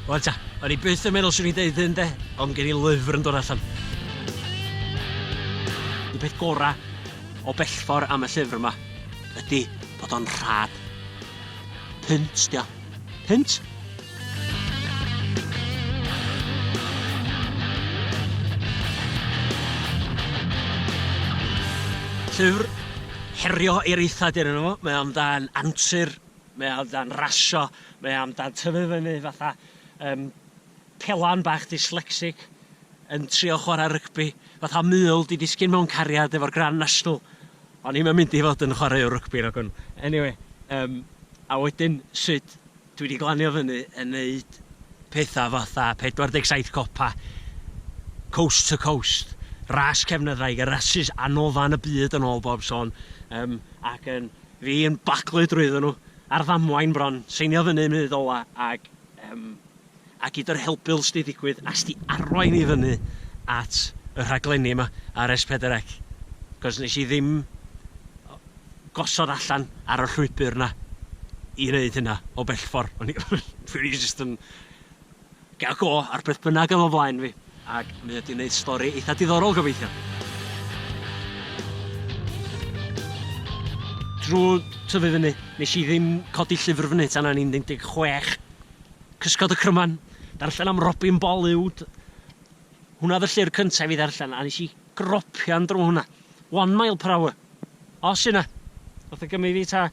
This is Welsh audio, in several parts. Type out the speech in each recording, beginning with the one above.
Wel ta, o'n i byth yn meddwl swn i'n deud hyn de, ond gen i lyfr yn dod allan. Y peth gorau o bellfor am y llyfr yma ydy bod o'n rhad. Punt, dio. Punt! Llyfr herio eiraethad yna fo, mae o'n dan antur Mae o amdan rasio, mae o amdan tyfu fyny fatha yym pelan bach dyslexic yn trio chwarae rygbi, fatha mul 'di disgyn mewn cariad efo'r Grand National. O'n i'm yn mynd i fod yn chwaraewr rygbi nag o'n. Eniwe, yym, a wedyn sut dwi 'di glanio fyny yn neud petha fatha 47 copa, coast to coast, ras cefnyddraig, y rasys anofan y byd yn ôl bob sôn, yym, ac yn Fi yn baglu drwyddo nhw ar ddamwain bron, seinio fyny yn munud ola ag yym a gyd yr helbul s'di digwydd a s'di arwain i fyny at y rhaglenni yma ar S4C cos nes i ddim gosod allan ar y llwybr 'na i neud hynna o bellffor o'n i jyst yn Ga go ar beth bynnag oedd o flaen fi, ac mi ydi wneud stori eitha diddorol gobeithio. Drwy tyfu fyny, nes i ddim codi llyfr fyny tan o'n i'n 16. Cysgod y cryman, darllen am Robin Bollywood. Hwnna oedd y llyfr cyntaf i fi ddarllen, a nes i gropio'n drwy hwnna. one mile per hour. Os yna. Nath o gymryd fi ta,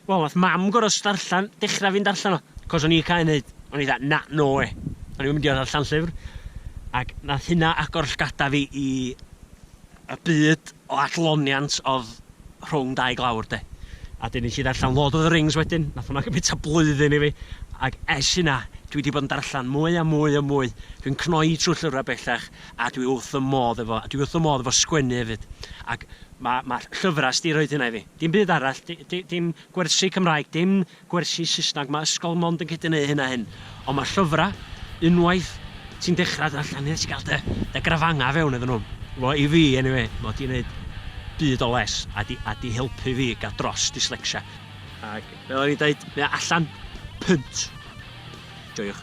wel nath mam gor'o' st- darllan, dechra fynd allan o, 'c'os o'n i cau neud, o'n i fatha na, no wê. O'n i'm yn mynd i or'o' darllan llyfr. Ac nath hynna agor llgada fi i y byd o adloniant odd rhwng dau glawr 'de. A 'dyn nes i ddarllan Lord of the Rings wedyn, nath hwnna gymryd ta blwyddyn i fi, ac es hynna, dwi 'di bod yn darllan mwy a mwy a mwy, dwi'n cnoi trw llyfra bellach, A dwi wrth fy modd efo, dwi wrth fy modd efo sgwennu hefyd. Ac ma' ma' llyfrau 'di rhoid hynna i fi. Dim byd arall, di- di- dim gwersi Cymraeg, dim gwersi Saesneg, ma' ysgol mond yn gallu neud hyn a hyn. Ond ma' llyfrau, unwaith ti'n dechrau darllen, ti'n gallu cael dy dy grafangau fewn iddyn nhw. Wel i fi eniwe, ma' 'di neud byd o les a 'di a 'di helpu fi i gael dros dyslecsia. Ac fel o'n i'n deud, mae o allan. Pynt. Joiwch.